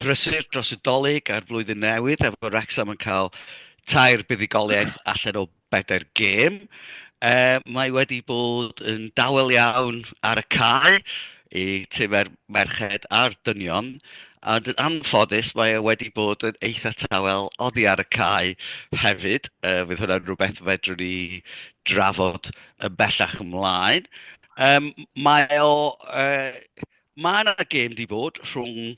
Brysur dros y Dolig a'r Flwyddyn Newydd efo Wrecsam yn cael tair buddugoliaeth allan o bedair gêm. E, mae wedi bod yn dawel iawn ar y cae i time'r merched a'r dynion, a yn anffodus mae e wedi bod yn eitha tawel oddi ar y cae hefyd. E, fydd hwnna'n rhywbeth fedrwn ni drafod yn bellach ymlaen. E, mae o... E, Mae yna gêm di bod rhwng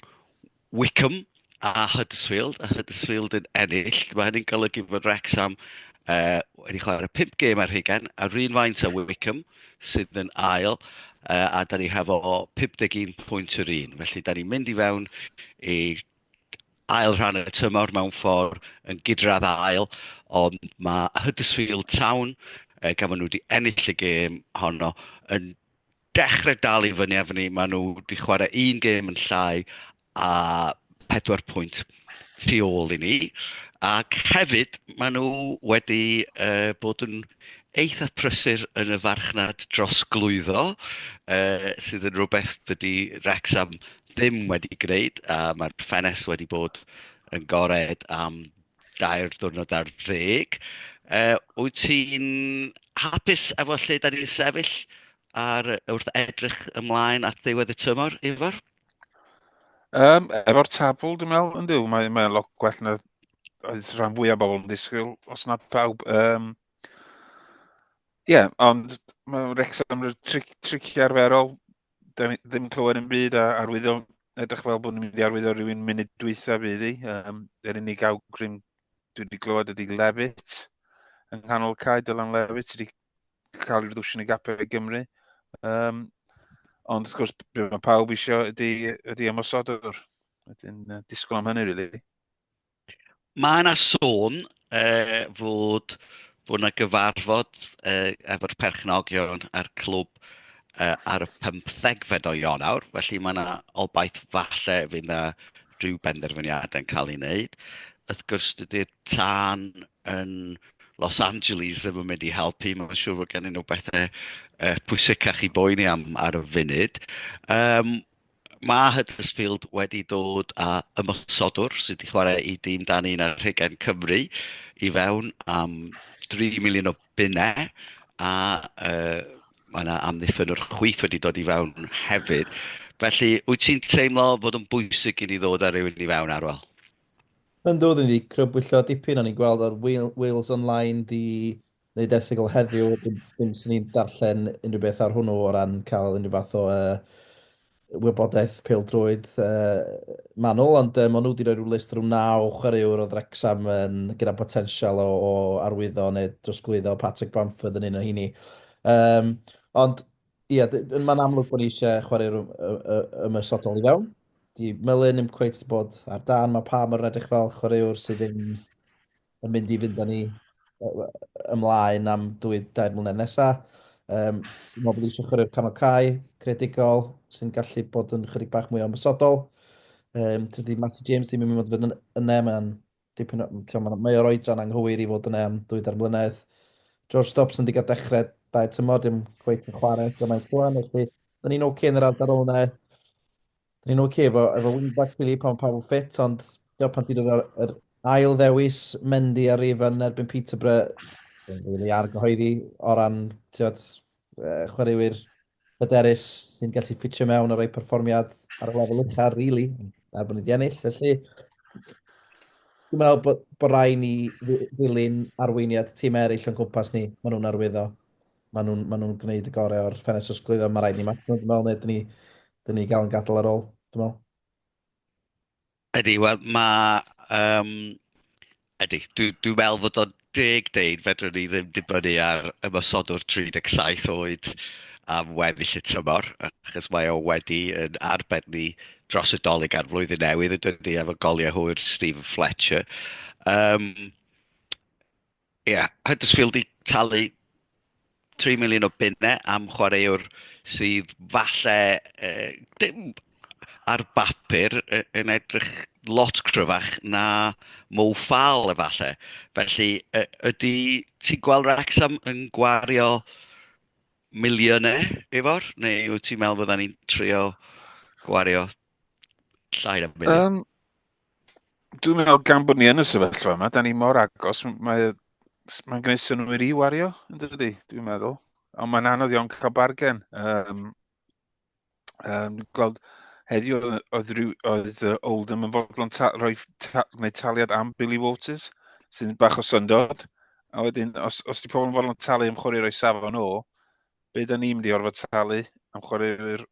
Wickham a Huddersfield, a Huddersfield yn ennill. Mae hynny'n golygu bod Wrexham uh, wedi chwarae 5 gêm ar hugen, a rhywun faint a Wickham sydd yn ail, uh, a da ni hefo 51 pwynt yr un. Felly da ni'n mynd i fewn i ail rhan y tymor mewn ffordd yn gydradd ail, ond mae Huddersfield Town, uh, gan fod nhw wedi ennill y gêm honno, yn dechrau dal i fyny efo ni. Maen nhw wedi chwarae un gêm yn llai a pedwar pwynt tu ôl i ni. Ac hefyd, maen nhw wedi uh, bod yn eitha prysur yn y farchnad dros glwyddo, uh, sydd yn rhywbeth dydy Rexham ddim wedi gwneud, a mae'r ffenes wedi bod yn gored am dair diwrnod ar ddeg. Yy, wyt ti'n hapus efo lle da ni'n sefyll ar wrth edrych ymlaen at ddiwedd y tymor, Ifor? Um, efo'r tabl, dwi'n meddwl, yn dyw, mae'n mae lot gwell na oedd rhan fwyaf bobl yn disgwyl, os na pawb. Um, Ie, yeah, ond mae Wrexham yn tri, trici arferol, da ni ddim yn clywed yn byd a arwyddo, edrych fel bod ni'n mynd i arwyddo rhywun munud dwytha fydd i. Um, yr unig awgrym dwi wedi clywed ydy Levit yng nghanol cae, Dylan Levit wedi cael ei ddwysio yn y gapau i Gymru. Um, ond wrth gwrs, be mae pawb eisiau ydy, ydy ymosodwr. Wedyn, uh, disgwyl am hynny, rili. Really. Mae 'na sôn yy fod bod 'na gyfarfod yy efo'r perchnogion a'r clwb yy ar y pymthegfed o Ionawr, felly mae 'na obaith falle fydd 'na ryw benderfyniadau yn cael ei wneud. Wrth gwrs dydy'r tân yn Los Angeles ddim yn mynd i helpu, mae'n siŵr fod gennyn nhw bethau yy pwysicach i boeni am ar y funud. Yym mae Huddersfield wedi dod â ymosodwr sydd wedi chwarae i dîm dan un ar rhegen Cymru i fewn am 3 miliwn o bunnau a uh, mae yna amddiffyn o'r chwyth wedi dod i fewn hefyd. Felly, wyt ti'n teimlo fod yn bwysig i ni ddod ar rywun i fewn arwel? Yn dod, ni wedi crybwyllo dipyn o'n i'n gweld ar Wales Online ddi wneud erthygl heddiw, dim, dim sy'n ni'n darllen unrhyw beth ar hwnnw o ran cael unrhyw fath o uh, wybodaeth peildrwyd uh, manwl, ond uh, maen nhw wedi rhoi rhyw list rhyw naw chwaraewr o Ddrecsam yn, gyda potensial o, o arwyddo neu drosglwyddo Patrick Bamford yn un o hini. Um, ond, ie, yeah, mae'n amlwg bod ni eisiau chwaraewr ymwysodol i fewn. Di Melin ddim cweith bod ar dan, mae pa mor edrych fel chwaraewr sydd ddim yn mynd i fynd â ni ymlaen am dwy dair mlynedd nesaf. Um, dwi'n meddwl bod eisiau chwarae'r canol cae, credigol, sy'n gallu bod yn chydig bach mwy o ymwysodol. Um, tydi Matty James ddim yn mynd fod yn yna, mae'n dipyn o... Mae o'r oedran anghywir i fod yna am dwy dair mlynedd. George Stops yn digon dechrau dau tymor, dim gweith yn chwarae eto mae'n cwan, felly dyn ni'n oce yn yr ardal yna. Ni'n oce okay, efo, efo wingback Philly pan pawb yn ffit, ond diolch pan ti'n dod o'r er ail ddewis Mendy ar rif yn erbyn Peterborough. Yn rili argyhoeddi o ran tiod, uh, chwaraewyr hyderus sy'n gallu ffitio mewn ar ei perfformiad ar y lefel ucha, rili, really, er bod ni wedi ennill. Felly, dwi'n meddwl bod, bod rai ni ddilyn arweiniad tîm eraill o'n cwmpas ni, maen nhw'n arwyddo. maen nhw'n ma nhw gwneud y gorau o'r ffenest os glwyddo, mae rhaid ni match nhw, dwi'n meddwl, neu dyn ni, dyn ni gael yn gadael ar ôl, dwi'n meddwl. Ydy, wel, mae... Um, ydy, dwi'n dwi meddwl fod o'n deg deud, fedrwn ni ddim dibynnu ar ymosodwr 37 oed am weddill y tymor, achos mae o wedi yn arbed ni dros y dolyg ar flwyddyn newydd, y dydy efo goliau hwyr Stephen Fletcher. Um, Ie, Huddersfield 'di talu tri miliwn o bunne am chwaraewr sydd falle uh, dim ar bapur yn edrych lot cryfach na Mo Fall efallai. Felly, ydy ti'n gweld Wrexham yn gwario miliynau efo'r? Neu wyt ti'n meddwl fydda ni'n trio gwario llai na miliwn? Um, Dwi'n meddwl gan bod ni yn y sefyllfa yma, da ni mor agos, mae'n mae gwneud synwyr i wario, yn dydy, dwi'n meddwl. Ond mae'n anodd iawn cael bargen. Um, um, gweld heddiw oedd, oedd uh, Oldham yn fodlon ta, rhoi ta, gwneud taliad am Billy Waters, sy'n bach o syndod. A wedyn, os, os di pobl yn fodlon talu am chwarae roi safon o, be da ni'n mynd i orfod talu am chwaraewyr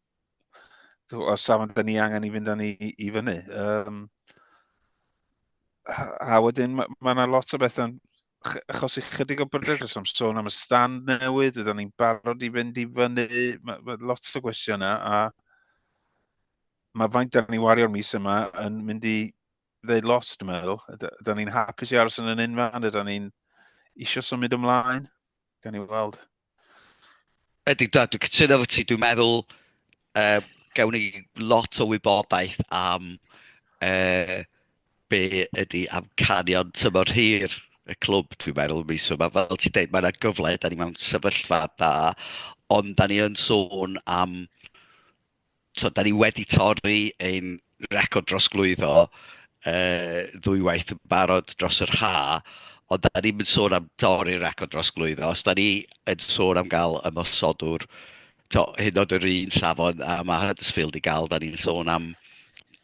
os safon da ni angen i fynd â ni i fyny. Um, a wedyn mae ma yna lot o bethau achos i chydig o bryder dros am sôn am y stand newydd, ydyn ni'n barod i fynd i fyny, mae ma lot o gwestiynau a mae faint da ni wario'r mis yma yn mynd i ddeud lot, dwi'n meddwl. Ydyn ni'n hapus i aros yn yn unfan, ydyn ni'n eisiau symud ymlaen, gan i weld. Ydy, da, dwi'n cytuno fo ti. Dwi'n meddwl, uh, gawn ni lot o wybodaeth am uh, be ydy amcanion tymor hir y clwb, dwi'n meddwl, mis yma. Fel ti'n dweud, mae yna gyfle, da ni mewn sefyllfa da, ond da ni yn sôn am tibod, dan ni wedi torri ein record drosglwyddo yy ddwywaith yn barod dros yr haf, ond dan ni'm yn sôn am dorri'r record drosglwyddo. Os dan ni yn sôn am gael ymosodwr, tibod, hyd yn oed yr un safon a ma' Huddersfield 'di gael, dan ni'n sôn am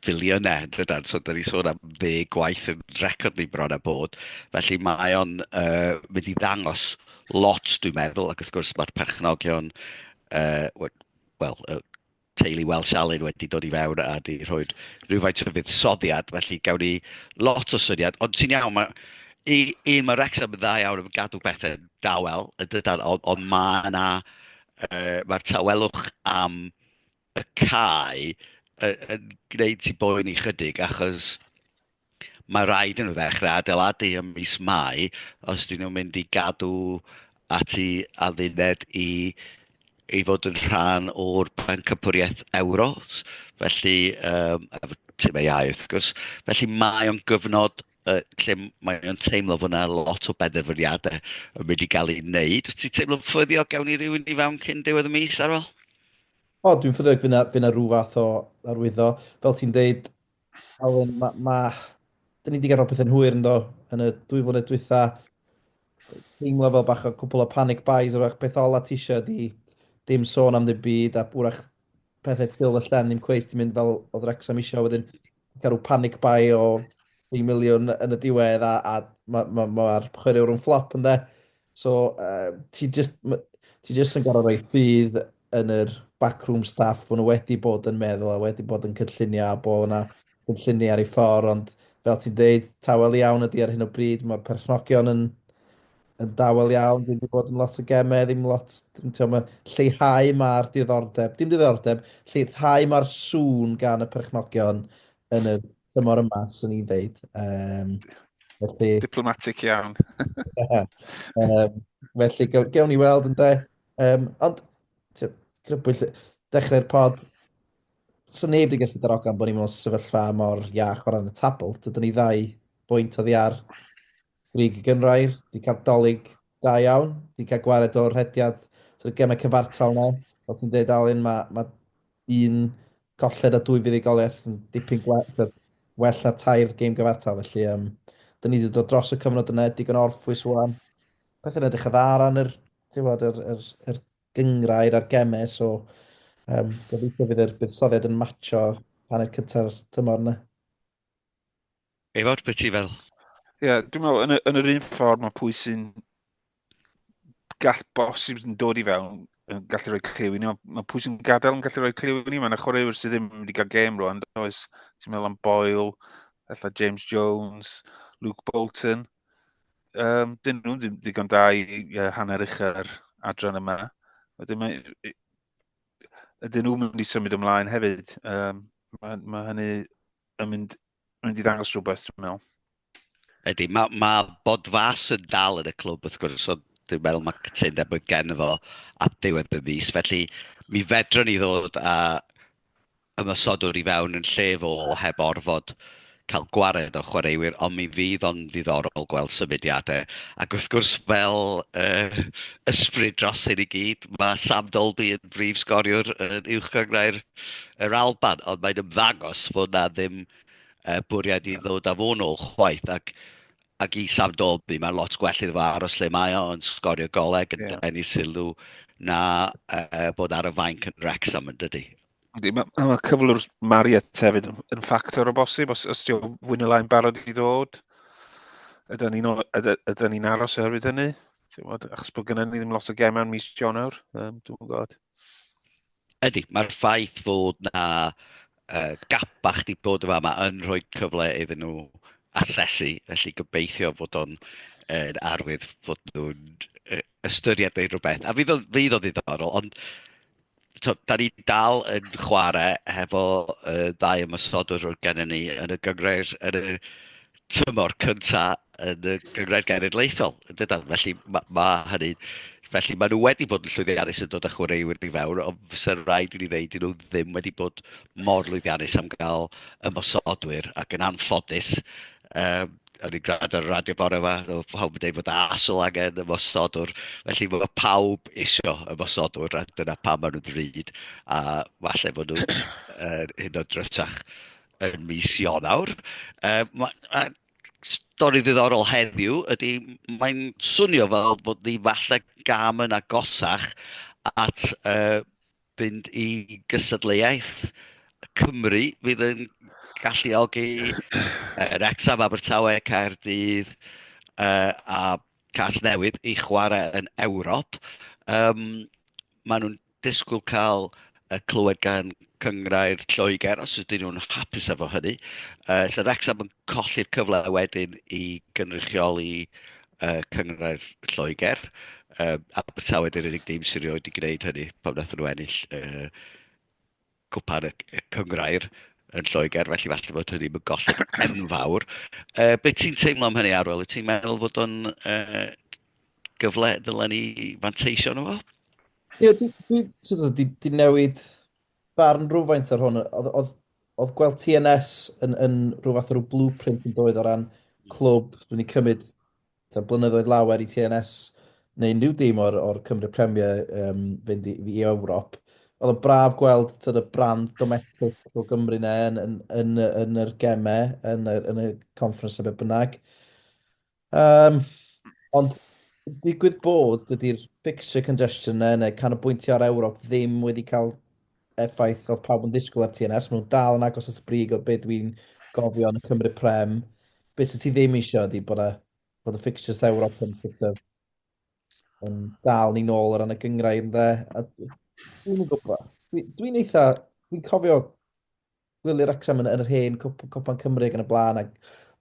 filiynau yn dydan. So dan ni'n sôn am ddeg gwaith yn record ni bron a bod. Felly mae o'n yy mynd i ddangos lot dwi'n meddwl, ac wrth gwrs mae'r perchnogion yy wel, y teulu Welsh Alun wedi dod i fewn a di rhoi rhywfaint o fuddsoddiad, felly gawn ni lot o syniad. Ond ti'n iawn, mae, i, un, mae Wrexham yn dda iawn yn gadw pethau dawel, yn dydan, ond, ond mae yna, uh, mae'r tawelwch am y cae yn gwneud ti boen i chydig, achos Mae rhaid yn y ddechrau adeiladu ym mis Mai os dyn nhw'n mynd i gadw ati adduned i i fod yn rhan o'r pencampwriaeth euro, felly um, efo tîm ei iau wrth gwrs. Felly mae o'n gyfnod uh, lle mae o'n teimlo fod yna lot o benderfyniadau yn mynd i gael ei wneud. Wyt ti'n teimlo'n ffyddiog gawn ni rhywun i fewn cyn diwedd y mis ar ôl? O, dwi'n ffyddiog fyna, fyna rhyw fath o arwyddo. Fel ti'n deud, Alun, mae... Ma, da ni wedi gael pethau'n hwyr ynddo yn y dwy flynedd dwytha. Teimlo fel bach o cwpl o panic buys, o'r peth ola ti eisiau di dim sôn am ddim byd, a bwrach pethau ffil y llen ddim cweith ti'n mynd fel oedd Rexham eisiau wedyn cael rhyw panic buy o 3 miliwn yn y diwedd a, a mae'r ma, ma, ma chwaraewr yn fflop ynddo. So, uh, ti just, ti just yn gorau rhoi ffydd yn yr backroom staff bod nhw wedi bod yn meddwl a wedi bod yn cynllunio a bod yna cynllunio ar ei ffordd, ond fel ti'n dweud, tawel iawn ydy ar hyn o bryd, mae'r perchnogion yn, yn dawel iawn, ddim wedi bod yn lot o gemau, ddim lot, dim ti'n mae lleihau mae'r diddordeb, dim diddordeb, lleihau mae'r sŵn gan y perchnogion yn y tymor yma, swn i'n deud. Um, felly... Diplomatic iawn. um, felly, gewn ni weld yn de. Um, ond, grybwyll, dechrau'r pod, sy'n neb wedi gallu darogan bod ni mewn sefyllfa mor iach o ran y tabl. Dydyn ni ddau bwynt oddi ar grig y gynrair, wedi cael dolyg Da iawn, di cael gwared o'r rhediad, sort of gemau cyfartal na, fel ti'n dweud Alun, mae ma un colled a dwy fuddugoliaeth yn dipyn gwell, well na tair gêm gyfartal, felly um, dyn ni wedi dod dros y cyfnod yna, digon orffwys wan. Pethau'n edrych y dda ran yr, bod, yr, yr, yr gyngrair a'r gemau, so um, gobeithio bydd yr buddsoddiad yn matcho hanner cynta'r tymor yna. Eifawr, beth ti fel? Ie, yeah, dwi'n meddwl, yn, yn yr un ffordd mae pwy sy'n gall bosib yn dod i fewn yn gallu rhoi clyw i ni, mae pwy sy'n gadael yn gallu rhoi clyw i ni, mae'n yna chwaraewyr sydd ddim wedi cael gêm rwan, does, ti'n meddwl am Boyle, efallai James Jones, Luke Bolton, um, dyn nhw'n ddigon da i uh, hanner uchau'r adran yma. Wedyn mae, ydyn nhw'n mynd i symud ymlaen hefyd. Um, mae, mae hynny yn mynd, yn mynd i ddangos rhywbeth, dwi'n meddwl. Ydy, mae ma bod fas yn dal yn y clwb, wrth gwrs, so dwi'n meddwl mae cytundeb oedd gen fo at ddiwedd y mis. Felly, mi fedrwn ni ddod a ymysodwr i fewn yn lle fo heb orfod cael gwared o chwaraewyr, ond mi fydd o'n ddiddorol gweld symudiadau. Ac wrth gwrs, fel uh, ysbryd dros hyn i gyd, mae Sam Dolby yn brif sgoriwr yn uwch gyngrau'r Yr Alban, ond mae'n ymddangos fod 'na ddim uh, bwriad i ddod â fo'n ôl chwaith, ac, ac i Sam Dolby, mae'n lot gwell iddo fo aros lle mae o, yn sgorio goleg, yn yeah. denu sylw, na uh, bod ar y fainc yn Wrexham yn dydy. Ydy, mae, ma cyflwr Mariet hefyd yn, yn ffactor o bosib, os, os diolch fwy neu lai'n barod i ddod. Ydy ni'n ydy ni aros oherwydd hynny? Bod, achos bod gyda ni ddim lot o gemau yn mis Ionawr, um, dwi'n gwybod. Ydy, mae'r ffaith fod na uh, gapa chdi bod yma yma yn rhoi cyfle iddyn nhw asesu, felly gobeithio fod o'n yn arwydd fod nhw'n uh, ystyried neu rhywbeth. A fydd o, fydd o ddiddorol, ond to, da ni dal yn chwarae hefo uh, ddau ymwysodwr o'r gennym ni yn y gyngreir, yn y tymor cynta yn y Gyngrair Genedlaethol, yn dydan? Felly mae ma hynny... Felly maen nhw wedi bod yn llwyddiannus yn dod â chwaraewyr i fewn, ond fysa'r rhaid i ni ddeud dyn nhw ddim wedi bod mor lwyddiannus am gael ymosodwyr, ac yn anffodus, um, o'n i'n gwrando ar y radio bore yma, oedd pawb yn dweud bod asol angen y mosodwr, felly mae pawb isio y mosodwr, a dyna pa maen nhw'n ddrud, a falle bod nhw'n uh, hyn o drysach. yn mis Ionawr. Uh, mae stori ddiddorol heddiw ydy, mae'n swnio fel bod ni falle gam yn agosach at uh, fynd i gysadleuaeth Cymru fydd yn galluogi uh, Rexham, Abertawe, Caerdydd uh, a Casnewydd i chwarae yn Ewrop. Um, maen nhw'n disgwyl cael y clywed gan cyngrair Lloegr os ydyn nhw'n hapus efo hynny. Uh, so Wrexham yn colli'r cyfle wedyn i gynrychioli uh, cyngrair Lloegr. Uh, Abertawe dy'r unig dîm sy'n rioed i gwneud hynny pan wnaethon nhw ennill uh, cwpan y, y cyngrair yn Lloegr, felly falle bod hynny yn gosod enfawr. Uh, be ti'n teimlo am hynny, Arwel? Ti'n meddwl fod o'n uh, gyfle dylen ni fanteisio nhw? Ie, yeah, di, di, di, newid barn rhywfaint ar hwn. Oedd oedd gweld TNS yn, yn rhyw fath o rhyw blueprint yn doedd o ran clwb, dwi'n ni cymryd Taw blynyddoedd lawer i TNS neu unrhyw dîm o'r, o'r Cymru Premier um, fynd i, i Ewrop. Oedd yn braf gweld tyd, y brand domestic o Gymru na yn, yn, yn, yn yr gemau, yn, yn y conference a beth bynnag. Um, ond digwydd bod, dydy'r fixture congestion na neu canolbwyntio ar Ewrop ddim wedi cael effaith oedd pawb yn ddisgwyl ar TNS, maen nhw'n dal yn agos at y brig o beth dwi'n gofio yn y Cymru Prem. Beth sydd ti ddim eisiau ydy bod, a, bod y fixtures Ewrop yn sort of yn dal ni'n ôl o ran y gyngrau yn dde. Dwi'n gwybod. Dwi'n dwi eitha... Dwi'n cofio Gwylio Wrecsam yn, yn yr hen cwp, cwpan Cymru ac yn y blaen. Ac,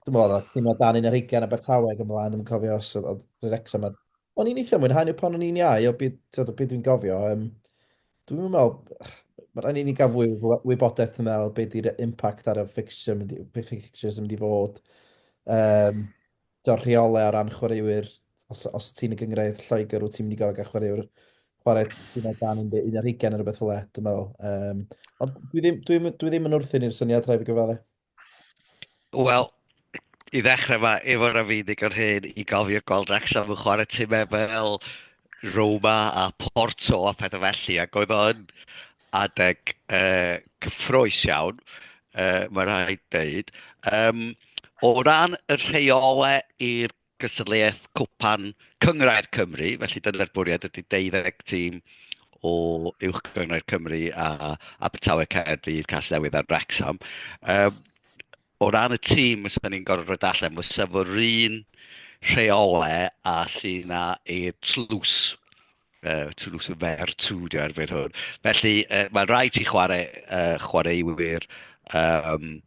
dwi'n meddwl, oedd tîm o dan un ar hugain a Bertawe ac yn blaen, dwi'n cofio os oedd, oedd Wrecsam. A, o'n i'n eitha mwynhau nhw pan o'n i'n iau, o byd, tyd, o byd dwi'n gofio. Um, dwi'n meddwl, mae rhaid i ni gael fwy o wybodaeth, dwi'n meddwl, beth di'r impact ar y fixture, fixtures yn mynd i fod. Um, tibod, rheolau o ran chwaraewyr, os, os ti'n y gyngraedd Lloegr, wyt ti'n mynd i gorau gael chwaraewr chwarae tîm o dan 11 neu rhywbeth fel e, dwi'n meddwl. Um, ond dwi ddim, dwi, dwi ddim yn wrthyn i'r syniad rhaid i gyfalu. Wel, i ddechrau mae Ifor a fi ddigon hyn i gofio gweld Wrexham yn chwarae tîmau fel Roma a Porto a pethau felly, ac oedd o yn adeg uh, cyffroes iawn, uh, mae rhaid dweud. Um, o ran y rheolau i'r gystadleuaeth cwpan Cyngrair Cymru, felly dyna'r bwriad ydy 12 tîm o Uwch Gyngrair Cymru a Abertawe Caerdydd, Casnewydd a Wrexham. Um, O ran y tîm, os ydyn ni'n gorfod rhoi allan, fysa fo'r un rheole a llu na e tlws. Uh, tlws y fer tŵ, di ar fer hwn. Felly, uh, mae'n rhaid ti chwarae, uh, chwaraewyr um,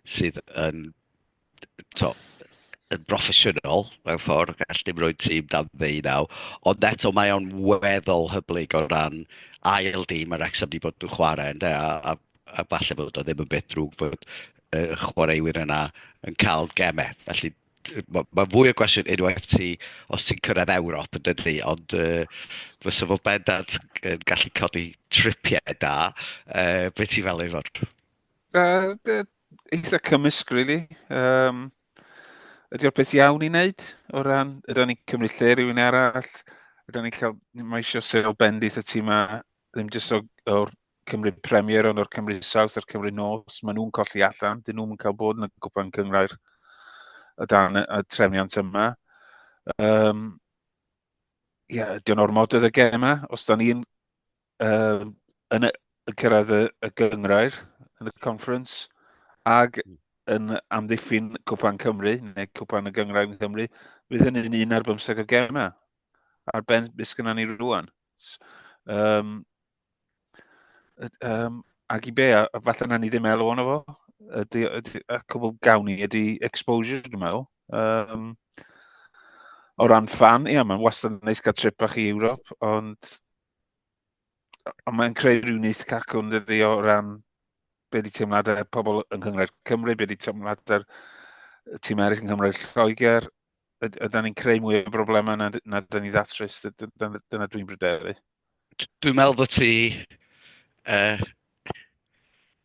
sydd yn, to, yn broffesiynol mewn ffordd, gall dim rhoi tîm dan ddeunaw, ond eto mae o'n weddol hyblyg o ran ail dîm yr Wrexham wedi bod yn chwarae, ynddo, a, a a falle bod o ddim yn beth drwg bod uh, chwaraewyr yna yn cael gemau. Felly mae ma fwy o gwestiwn unwaith ti, os ti'n cyrraedd Ewrop yn dydy, ond uh, fy sefyl bendant yn gallu codi tripiau da, uh, beth ti'n fel ei fod? Uh, it's a cymysg, really. Um, ydy o'r beth iawn i wneud o ran, ydy ni'n cymryd lle rhywun arall, ydy ni'n cael, mae eisiau sefyl bendith y tîm ma, ddim jyst o'r Cymru Premier ond o'r Cymru South a'r Cymru North, maen nhw'n colli allan, dyn nhw'n cael bod yn y gwpan cyngrair y dan y trefniant yma. Um, ia, ydy o'n ormod oedd y gem yma, os da ni'n uh, yn, yn cyrraedd y, y gyngrair yn y conference, ag hmm. yn amddiffyn Cwpan Cymru, neu Cwpan y Gyngrair yn Cymru, fydd hynny'n un ar bymseg o gem yma. Ar ben beth gyda ni rwan. Um, Um, ac i be, a, a falle na ni ddim elw ono fo, ydy, ydy, y cwbl gawn ni ydy exposure, dwi'n meddwl. Um, o ran fan, ia, mae'n wastad yn neis cael trip bach i Ewrop, ond, ond mae'n creu rhyw neis cacwn dydy o ran be di teimladau pobl yng Nghyngrair Cymru, be di teimladau'r tîm eraill yng Nghymru'r Lloegr, ydy'n ni'n creu mwy o broblemau na, na dyn ni ddatrys, dyna, dyna dwi'n bryderu. Dwi'n meddwl bod ti, uh,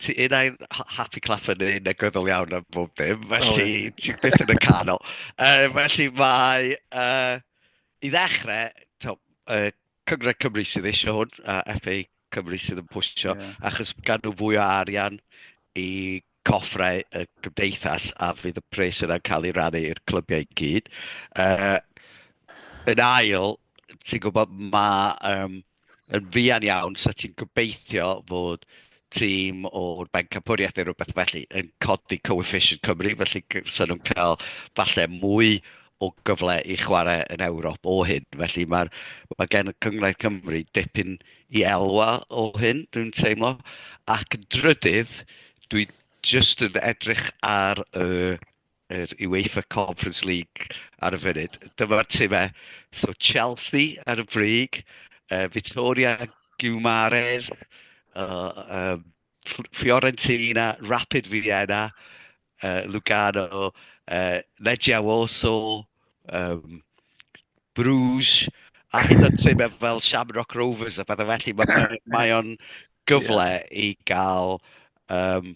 ti un ai'n happy clap yn un negyddol iawn am bob dim, felly oh, ti byth yn y canol. Uh, felly mae, uh, i ddechrau, to, uh, Cyngred Cymru sydd eisiau hwn, a FA Cymru sydd yn pwysio, yeah. achos gan nhw fwy o arian i coffrau y gymdeithas a fydd y pres yna'n cael ei rannu i'r clybiau i gyd. Uh, yn ail, ti'n gwybod, mae um, yn fuan iawn sut ti'n gobeithio fod tîm o'r Bencampwriaeth neu rhywbeth felly yn codi coefficient Cymru, felly sy'n nhw'n cael falle mwy o gyfle i chwarae yn Ewrop o hyn. Felly mae'r, mae gen y Cyngor Cymru dipyn i elwa o hyn, dwi'n teimlo. Ac yn drydydd, dwi jyst yn edrych ar y, yr UEFA Conference League ar y funud. Dyma'r timau. So Chelsea ar y brig, uh, Vittoria Gumares, uh, um, Fiorentina, Rapid Vienna, uh, Lugano, uh, Legia Warsaw, um, Bruges, a hyn yn tîm e fel Shamrock Rovers a pethau felly. Mae, mae o'n gyfle yeah. i gael... Um,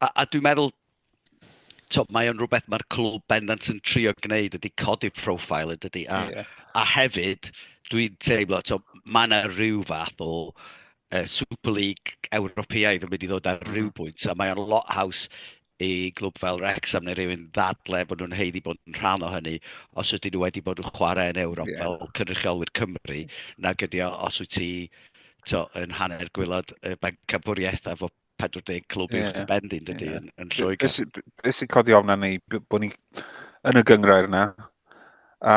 a, a dwi'n meddwl tywed, mae o'n rhywbeth mae'r clwb bendant yn trio gwneud ydy codi profile yn dydy. A, yeah. a hefyd, dwi'n teimlo, tywed, mae yna rhyw fath o uh, Super League Ewropeaidd yn mynd i ddod ar rhyw mm. bwynt, a mae o'n lot haws i glwb fel Wrexham neu rhywun ddadle bod nhw'n heiddi bod yn rhan o hynny os ydyn nhw wedi bod yn chwarae yn Ewrop yeah. fel cynrychiolwyr Cymru nag ydy os wyt ti to, yn hanner gwylod y bancabwriaeth a fod 40 clwb yeah. uwch bend i'n dydy yeah. yn, yn Lloegr. Beth sy'n codi ofna ni, bod ni yn y gyngrair yna, a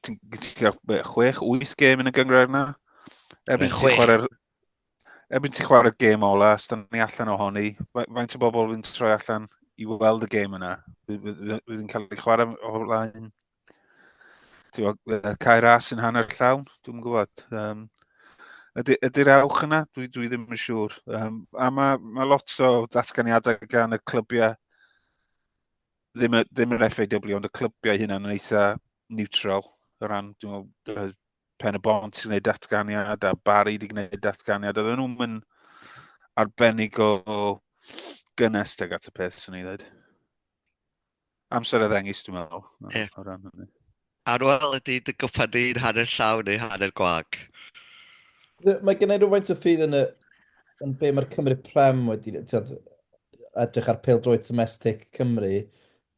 ti'n cael 6-8 gêm yn y gyngrair yna, erbyn ti'n chwarae'r erbyn ti'n chwarae'r gêm ola, os da ni allan o honi, faint o bobl fi'n troi allan i weld y gêm yna, fydd yn cael ei chwarae o flaen cair as yn hanner llawn, dwi'n gwybod. Um, ydy, ydy'r awch yna? Dwi, dwi ddim yn siŵr. Um, a mae ma lot o ddatganiadau gan y clybiau, ddim, ddim yr FAW, ond y clybiau hynna yn eitha neutral o ran, dwi'n meddwl, Pen y Bont sy'n gwneud datganiad a Barry wedi gwneud datganiad. Oedden nhw'n mynd arbennig o gynnes ag at y peth, sy'n ei ddweud. Amser y ddengis, dwi'n meddwl, yeah. o ran hynny. Ar ôl ydy dy gwpa di'n hanner llaw neu hanner gwag? Mae gen i rhywfaint o ffydd yn, y, yn be mae'r Cymru Prem wedi tyd, edrych ar pel drwy domestic Cymru.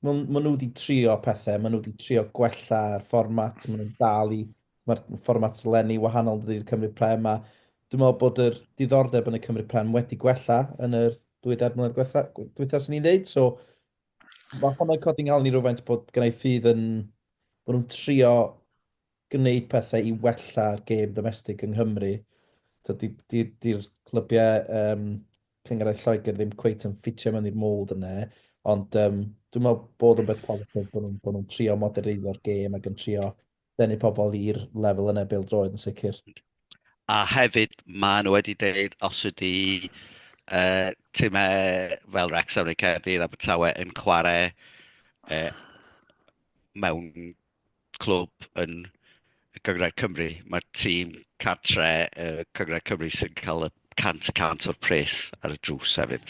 Maen ma nhw wedi trio pethau, maen nhw wedi trio gwella'r fformat, maen nhw'n dal i, mae'r fformat lenni wahanol dydy'r Cymru Prem, a dwi'n meddwl bod yr diddordeb yn y Cymru Prem wedi gwella yn yr dwy dair mlynedd diwethaf sy'n ni'n dweud, so Mae hwnna'n codi ngalon i rywfaint bod gynnau ffydd yn... bod nhw'n trio gwneud pethau i wella'r gêm domestig yng Nghymru. Dydy'r di, di, clybiau um, cyngerau Lloegr ddim cweit yn ffitio mewn i'r mold yna, ond um, dwi'n meddwl bod yn beth positif bod nhw'n nhw trio modereiddio'r gêm ac yn trio denu pobl i'r lefel yna bêl-droed yn sicr. A hefyd, maen nhw wedi deud os ydy uh, timau fel Wrexham neu Caerdydd a Abertawe yn chwarae uh, mewn clwb yn y Cyngred Cymru, mae'r tîm cartre y Cyngred Cymru sy'n cael y cant y cant o'r pres ar y drws hefyd.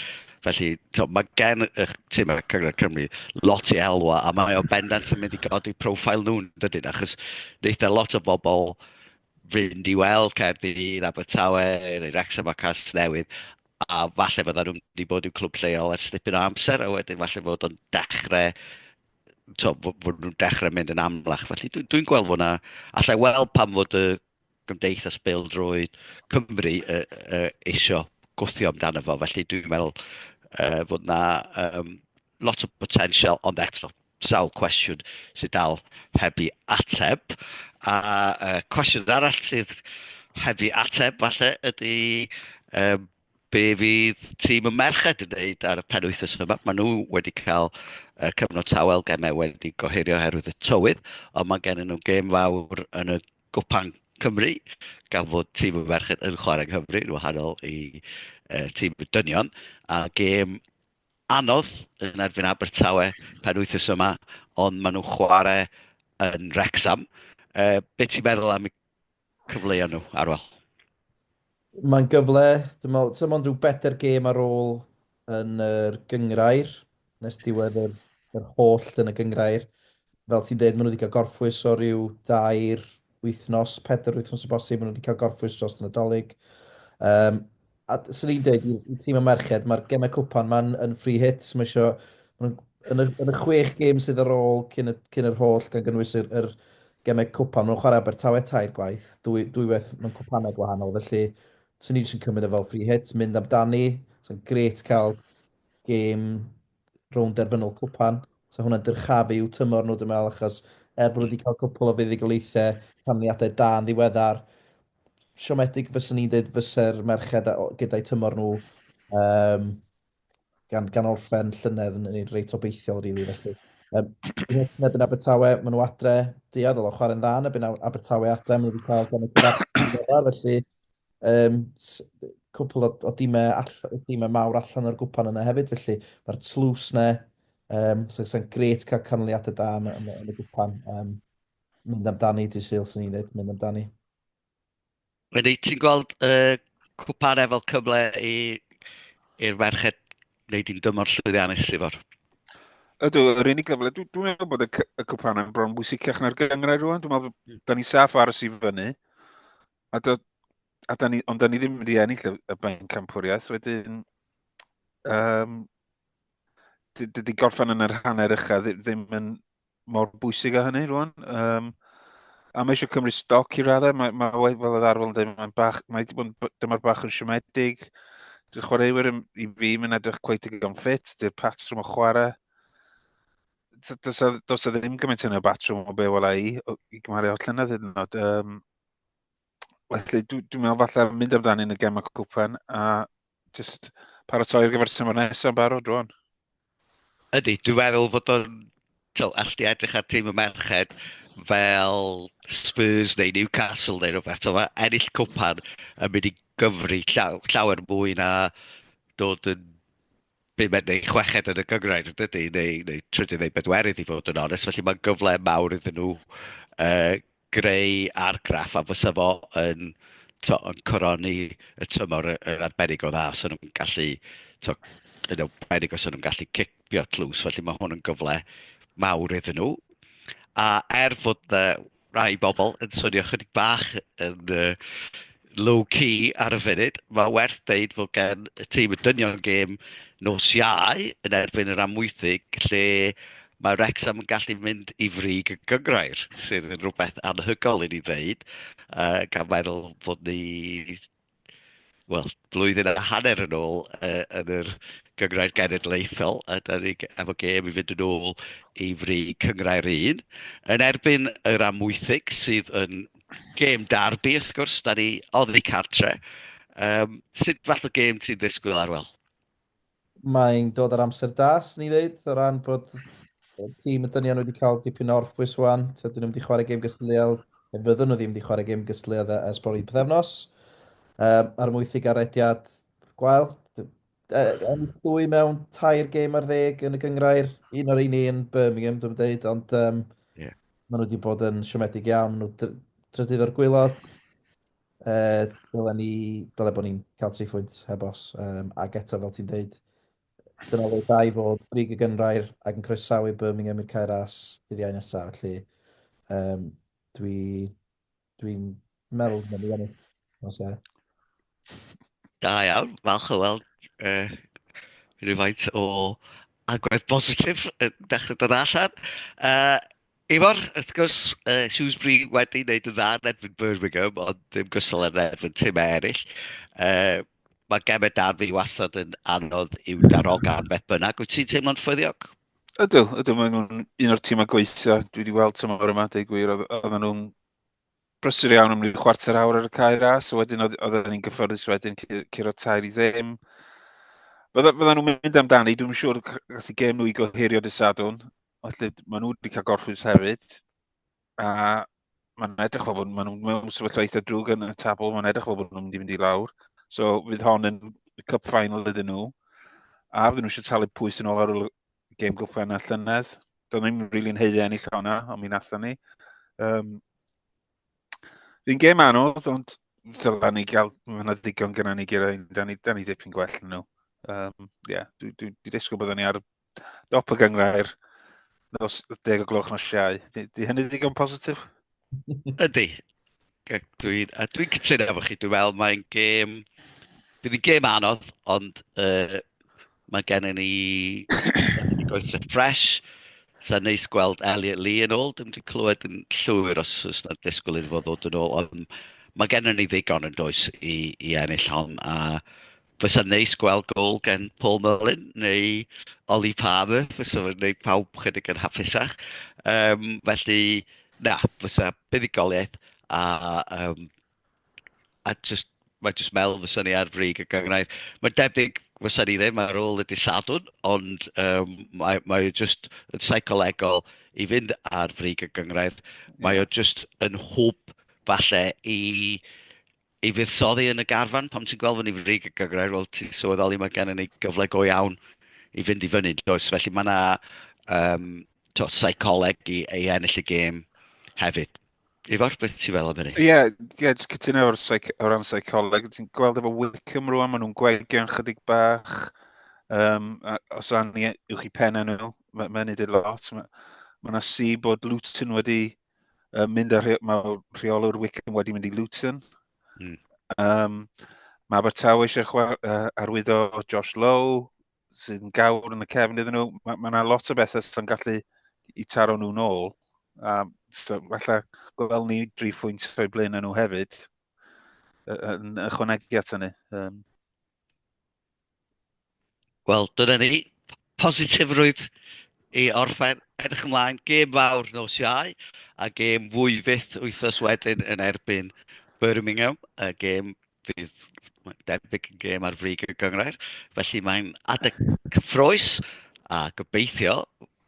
Felly, to, mae gen y tîm ar Cyngor Cymru lot i elwa, a mae o bendant yn mynd i godi profil nhw'n dydyn, achos wneud e lot o bobl fynd i weld Caerdydd, Abertawe, neu Wrexham a Cas Newydd, a falle fydda nhw'n wedi bod i'w clwb lleol ers dipyn o amser, a wedyn falle fod o'n dechrau to, fod nhw'n dechrau mynd yn amlach. Felly dwi'n dwi gweld fod yna, allai weld pam fod y Gymdeithas Bêl-droed Cymru eisiau gwthio amdano fo, felly dwi'n meddwl fod 'na lot o botensial, ond eto, sawl cwestiwn sydd dal heb i ateb. A cwestiwn arall sydd heb i ateb falle ydy be fydd tîm y merched yn wneud ar y penwythnos yma. Maen nhw wedi cael uh, cyfnod tawel, gemau wedi gohirio oherwydd y tywydd, ond mae gen nhw gêm fawr yn y Gwpan Cymru, gan fod tîm y merched yn chwarae yng Nghymru, yn wahanol i uh, tîm y dynion, a gêm anodd yn erbyn Abertawe pen wythnos yma, ond maen nhw'n chwarae yn Rexham. Uh, be ti'n meddwl am y cyfleoedd nhw, Arwel? Mae'n gyfle, dwi'n meddwl, ti'n meddwl rhyw bedair gêm ar ôl yn yr gyngrair, nes diwedd yr, yr holl yn y gyngrair. Fel ti'n dweud, maen nhw wedi cael gorffwys o ryw dair wythnos, pedair wythnos o bosib, maen nhw wedi cael gorffwys dros y Nadolig. Um, a sy'n ni'n dweud, i tîm y merched, mae'r gemau cwpan ma'n yn free hit, mae eisiau, yn y, yn y chwech gêm sydd ar ôl cyn, y, cyn yr holl, gan gynnwys yr, yr Gemau cwpan, maen nhw'n chwarae Abertawe tair gwaith, dwy, dwywaith mewn cwpanau gwahanol, felly swn ni jyst yn cymryd e fel free hit, mynd amdani, sa'n gret cael gêm rownd derfynol cwpan, sa hwnna'n dyrchafu i'w tymor nhw dwi'n meddwl, achos er bod nhw wedi cael cwpl o fuddugoliaethau, canlyniadau da yn ddiweddar, siomedig fyswn i'n dweud fyse'r merched gyda'i tymor nhw, um, gan, gan orffen llynedd yn, yn reit obeithiol, rili. Really, felly. Um, neb yn Abertawe, maen nhw adre, diad o chwarae'n dda, neb yn Abertawe adre, maen nhw wedi cael gan y cyfarfod, felly um, cwpl o, o dimau, all, dimau mawr allan o'r gwpan yna hefyd, felly mae'r tlws na, um, sy'n so, gret cael canlyniadau da yn, yn, yn y gwpan. Um, mynd amdani, di sy'n ni'n dweud, mynd amdani. Ydy, ti'n gweld y uh, cwpare fel cyfle i i'r ferched wneud i'n dymor llwyddiannus, Sifor? Ydw, yr unig gyfle, dwi'n dwi meddwl bod y, y cwpan yn bron bwysicach na'r gyngrau rwan, dwi'n meddwl, mm. da ni saff ar y fyny, a do, a da ni, ond da ni ddim wedi ennill y, y ben campwriaeth, wedyn, um, dydy gorffan yn yr hanner ycha ddim yn, mor bwysig a hynny rwan. Um, a mae eisiau cymryd stoc i raddau, mae, mae wedi fel oedd arfel yn dweud, mae'n bach, mae wedi bod yn dyma'r bach yn siomedig. Dwi'n chwaraewyr yn, i fi, mae'n edrych cweith i gan ffit, dy'r patrwm o chwarae. Does a ddim gymaint yn y batrwm o be wel i, i gymharu o'r llynedd hyd yn oed. Um, felly, dwi'n dwi meddwl falle mynd amdani yn y gemau cwpan, a Just paratoi ar gyfer tymor nesaf yn barod rwan. Ydy, dwi'n meddwl fod o'n... Ti'n all di edrych ar tîm y merched fel Spurs neu Newcastle neu rhywbeth. Mae ennill cwpan yn mynd i gyfri llaw, llawer mwy na dod yn bumed neu chweched yn y gyngrair, dydy, neu, neu trydydd neu bedwerydd i fod yn onest, felly mae'n gyfle mawr iddyn nhw uh, greu argraff a fysa fo yn, to, yn coroni y tymor yn arbennig o dda os yn nhw'n gallu, to, yn arbennig os yn nhw'n gallu cipio tlws, felly mae hwn yn gyfle mawr iddyn nhw. A er fod uh, rai bobl yn swnio chydig bach yn uh, low-key ar y funud. Mae werth dweud fod gen y tîm y dynion gêm nos iau yn erbyn yr amwythig lle mae Wrexham yn gallu mynd i frig y gyngrair, sydd yn rhywbeth anhygol i ni ddeud, uh, gan meddwl fod ni wel, blwyddyn a hanner yn ôl uh, yn yr Gyngrair Genedlaethol, a da ni efo gêm i fynd yn ôl i fri Cyngrair 1, yn erbyn yr Amwythig sydd yn gêm darbi, wrth gwrs, da ni oddi cartre. Um, sut fath o gêm ti'n ddisgwyl arwel? Mae'n dod ar amser da, sy'n ni ddeud, o ran bod tîm y dynion wedi cael dipyn o orffwys wan. Tydyn nhw'n wedi chwarae gêm gystadleuol, neu fyddwn nhw ddim wedi chwarae gêm gystadleuol e, ers bron i pethefnos. Um, ar mwythig arediad gwael. Yn dwy mewn tair gêm ar ddeg yn y gyngrair, un o'r un un Birmingham, dwi'n dweud, ond um, yeah. maen nhw wedi bod yn siomedig iawn, maen nhw drydydd o'r gwylod. Uh, dylen ni, dylen bod ni'n cael tri phwynt heb os. Um, ac eto, fel ti'n dweud, dyna oedd da i fod brig y gynrair ac yn croesawu Birmingham i'r cair as dyddiau nesaf. Felly, um, dwi, dwi'n meddwl bod ni'n ennill. Os e. Da iawn, falch o weld uh, rhywfaint o agwedd bositif yn dechrau dod allan. Uh, Ifor, wrth gwrs, uh, Shrewsbury wedi wneud yn dda yn edfyn Birmingham, ond ddim gysol yn edfyn tymau eraill. Uh, mae gemau darfu wastad yn anodd i'w darogan beth bynnag. Wyt ti'n teimlo'n ffyddiog? Ydw, ydw, mae nhw'n un o'r tîmau gweithio. Dwi wedi weld tymor yma, dweud gwir, oedd nhw'n brysur iawn am ryw chwarter awr ar y cae ras, a wedyn oedd ni'n gyffyrddus wedyn curo tair i ddim. Fydda nhw'n mynd amdani, dwi'n siŵr gallu gem nhw i gohirio dysadwn. Felly, maen nhw wedi cael gorffwys hefyd. A mae'n edrych fel bod maen nhw mewn sefyllfa eitha drwg yn y tabl. Mae'n edrych fel bod nhw'n mynd i fynd i lawr. So, fydd hon yn cup final iddyn nhw. A fydden nhw eisiau talu pwys yn ôl ar ôl gêm gwp enna llynedd. Doedd ddim rili'n really heiddi ennill hwnna, ond mi natha ni. Um, Fi'n gêm anodd, ond ddyla ni gael, mae yna ddigon gyda ni gyda, da ni, da ni ddipyn gwell nhw. Um, yeah, dwi, dwi, dwi disgwyl byddwn ni ar Dop y gyngrair, nos deg o gloch nos siau. Di, di hynny ddigon positif? Ydy. Dwi'n dwi cytuno efo chi. Dwi'n meddwl mae'n gêm... Bydd hi'n gêm anodd, ond uh, mae gen i ni goethau ffres. Sa'n neis gweld Elliot Lee yn ôl. Dwi'n wedi clywed yn llwyr os oes na disgwyl iddo fod ddod yn ôl. Ond mae gen i ni ddigon yn does i, i ennill hon. A fysa'n neis gweld gol gen Paul Mullin neu Ollie Palmer, fysa fo'n gwneud pawb chydig yn hapusach. Um, felly, na, fysa buddugoliaeth a, um, a just, mae jyst mel fysa ni ar frig y gyngrau. Mae'n debyg fysa ni ddim ar ôl y disadwn, ond um, mae, mae just yn seicolegol i fynd ar frig y gyngrau. Mae o just yn hwb falle i i fuddsoddi yn y garfan, pam ti'n gweld fyny frig y gygrair, wel ti'n sylweddoli mae gennym ni gyfle go iawn i fynd i fyny, does? Felly mae yna um, to, seicoleg i, i ennill y gêm hefyd. Ifor, beth ti'n fel am hynny? Ie, yeah, yeah, jyst cytuno o'r seic o ran seicoleg. Ti'n gweld efo Wickham rwan, maen nhw'n gwegio'n chydig bach. Um, os anni yw'ch chi pen nhw, mae'n ma nid ei lot. Mae yna si bod Luton wedi uh, mynd ar, mae rheolwr Wickham wedi mynd i Luton. Mm. Um, mae Abertawe eisiau chwar, uh, arwyddo Josh Lowe, sydd yn gawr yn y cefn iddyn nhw. Mae yna ma lot o bethau sy'n gallu i taro nhw'n ôl. Um, so, falle gweld ni dri phwynt o'i blaen nhw hefyd yn ychwanegu at hynny. Um, Wel, dyna ni. Positifrwydd i orffen. Edrych ymlaen, gêm fawr nos Iau, a gêm fwy fyth wythnos wedyn yn erbyn Birmingham, y gêm fydd debyg yn gêm ar frig y gyngrair. Felly mae'n adeg cyffroes, a gobeithio